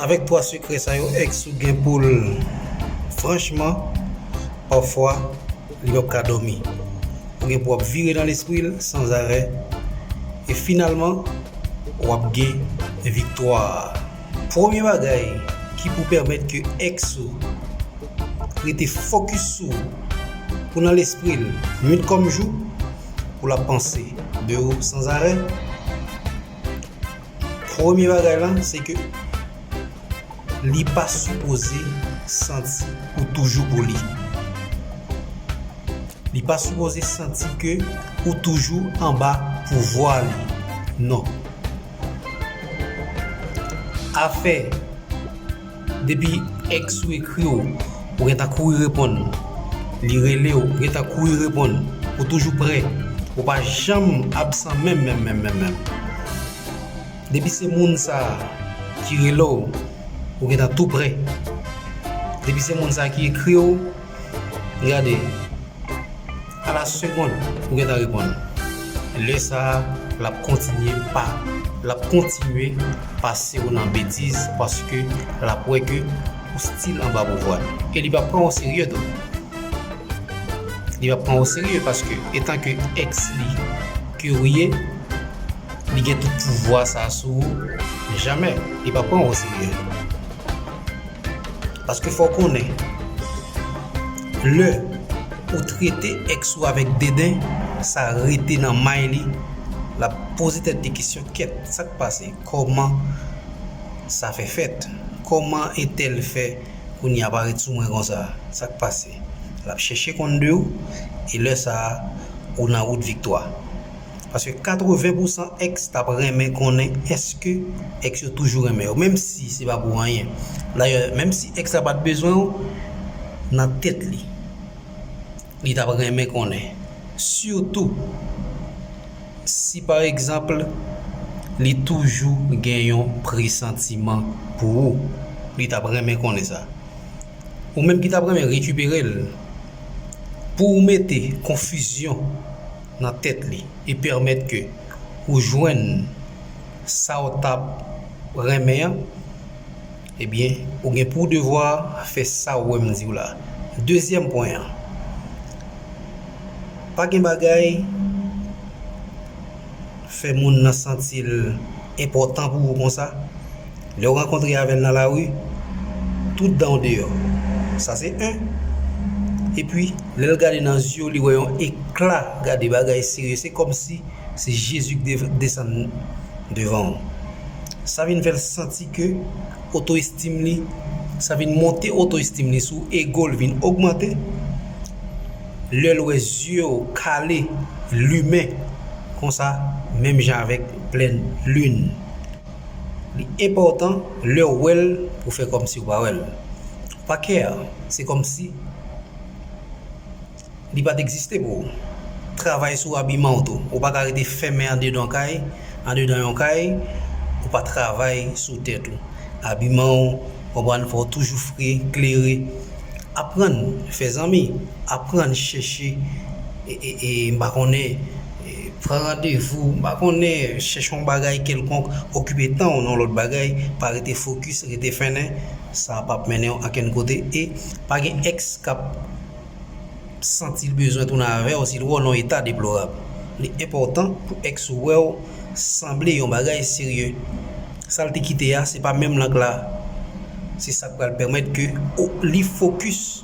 Avèk 3 sekrè sa yo ex ou gen poul franchman pafwa li pap ka dòmi ou gen pou ap vire nan lespril san zarè e finalman wap gen viktwa premye bagay ki pou pèmèt ke ex ou rete fokis sou ou pou nan lespril nwit kòm jou poul ap panse de ou san zarè. Premye bagay la se ke li pa sipoze santi ou toujou pou li. Li pa sipoze santi ke ou toujou anba pouvwa li. Non. Afè. Depi ex ou ekri w ou gen ta kouri reponn li rele w ou gen ta kouri reponn ou toujou prè ou pa janm absan menm menm menm menm menm depi se moun sa ki rele w ou gen ta tou prè depi se moun sa ki ekri w Gade, a la segond ou gentan reponn. Lè sa a l ap kontinye pa l ap kontinye pase w nan betiz paske l ap wè ke ou stil anba pouvwa l. E li p ap pran w oserye tou. Li p ap pran w oserye paske etan ke ex li ke ou ye, li gen tout pouvwa sa a sou ou, men jamè li p ap pran w oserye. Paske fò w konnen, lè ou trete èks ou avèk deden, sa rete nan may li, l ap poze tèt li kesyon, kèt, sa k pase? Kòman sa fè fèt? Kòman entèl fè kounye a parèt sou mwen konsa? Sa k pase? L ap chèche konn de ou, e lè sa a, ou nan wout viktwa. Paske 80 pousan ex tap renmen konnen eske ex yo toujou renmen yo menm si se pa pou anyen. Dayè menm si ex la pat bezwen w nan tèt li li tap renmen konnen sitou si pa egzanpl li toujou gen yon presantiman pou ou li tap renmen konnen sa. Ou menm ki tap renmen rekipere l pou ou mete konfizyon. nan tèt li e pèmèt ke ou jwenn sa ou tap renmen an ebyen ou gen pou devwa fè sa ou wèm diw la dezyèm pwen an pa gen bagay fè moun nan santil enpòtan pou ou konsa. Lè w rankontre avè l nan lari, tout dan w deyò. Sa se 1. Epi, lè l gade nan zye w li wè yon ekla gade bagay serye se kòmsi se Jezi k desann devan w. Sa vin fè l santi ke oto estim li, sa vin monte oto estim li sou ego l vin ogmante. Lè l wè zye w kale, limen konsa menm jan avèk plèn lin. Li enpòtan lè w wè l pou w fè kòmsi w pa wè l. Ou pa care. Se kòmsi li pa t egziste pou ou. Travay sou abiman w tou. Ou pa ka rete fèmen andedan kay, andedan yon kay, ou pa travay sou tèt ou. Abiman w, konprann, fò w toujou fre, klere. Aprann fè zanmi. Aprann chèche, m pa konnen. Pran randevou, m pa konnen, chèche yon bagay kèlkonk, okipe tan w nan lòt bagay, pa rete fokis, rete fennen, sa pap mennen w ankenn kote e pa gen èks k ap santi l bezwen tounen avè w si l wè w nan yon eta deplorab. Li enpòtan pou èks ou wè w sanble yon bagay serye. Sa l te kite a se pa menm lank la, se sa k pral pèmèt ke li fokis.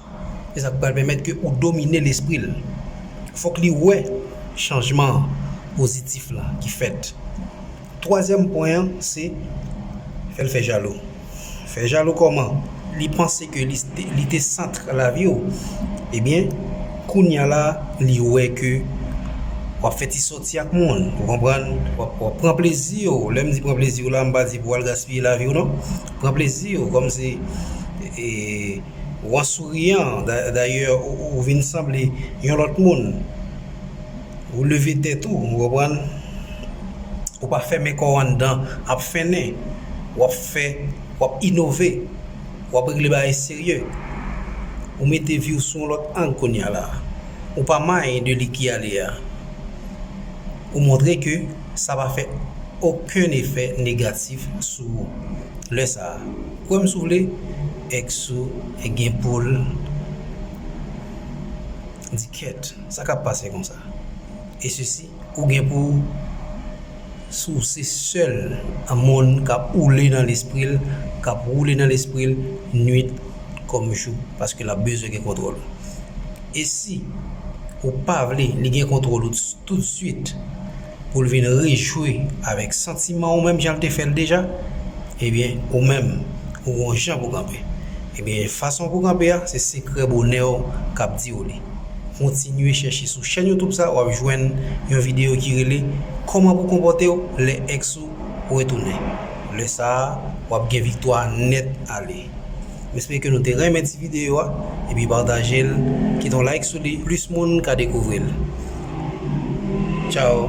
E sa ki pral pèmèt ke ou domine lespri l. Fòk li wè chanjman an pozitif la ki fèt. Twazyèm pwen an se fè l fè jalou. Fè jalou kòman? Li panse ke li te sant lavi w. Ebyen, kounya la li wè ke w ap fè ti sòti ak moun. Ou konprann? W ap pran plezi w. Lè m di pran plezi w la, m pa di pou w al gaspiye lavi w non. Pran plezi w kòm se. Ou an souriyan, dayè ou vin sanble yon lòt moun. Ou leve tèt ou, ou konprann. Ou pa fèmen kò w anndan ap fennen. W ap fè, w ap inove. W ap regle bagay serye. Ou mete vi w sou yon lòt ang kounya la. Ou pa manye de li ki ale a. Ou montre ke sa pa fè okenn efè negatif sou ou lè sa a. Kwèm si w vle, ex ou gen poul di kèt sa kap pase konsa e sesi ou gen pou w si w se sèl moun kap oule nan lespri l kap woule nan lespri l nwit kòm jou paske lap bezwen gen kontwòl ou e si ou pa vle li gen kontwòl ou tout swit. pou l vin rejwi avèk santiman ou menm jan l te fè l deja, ebyen ou menm ou gon jan pou kanpe. Ebyen fason pou kanpe a se sekrè bonè w k ap di w li. Kontinye chèche sou chèn YouTube sa w ap jwenn yon videyo ki rele kòman pou konpòte w lè ex ou retounen. Lè sa a w ap gen viktwa nèt ale. M espere ke nou te renmen ti videyo a epi pataje l kite yon like sou li plis moun ka dekouvri l Ciao.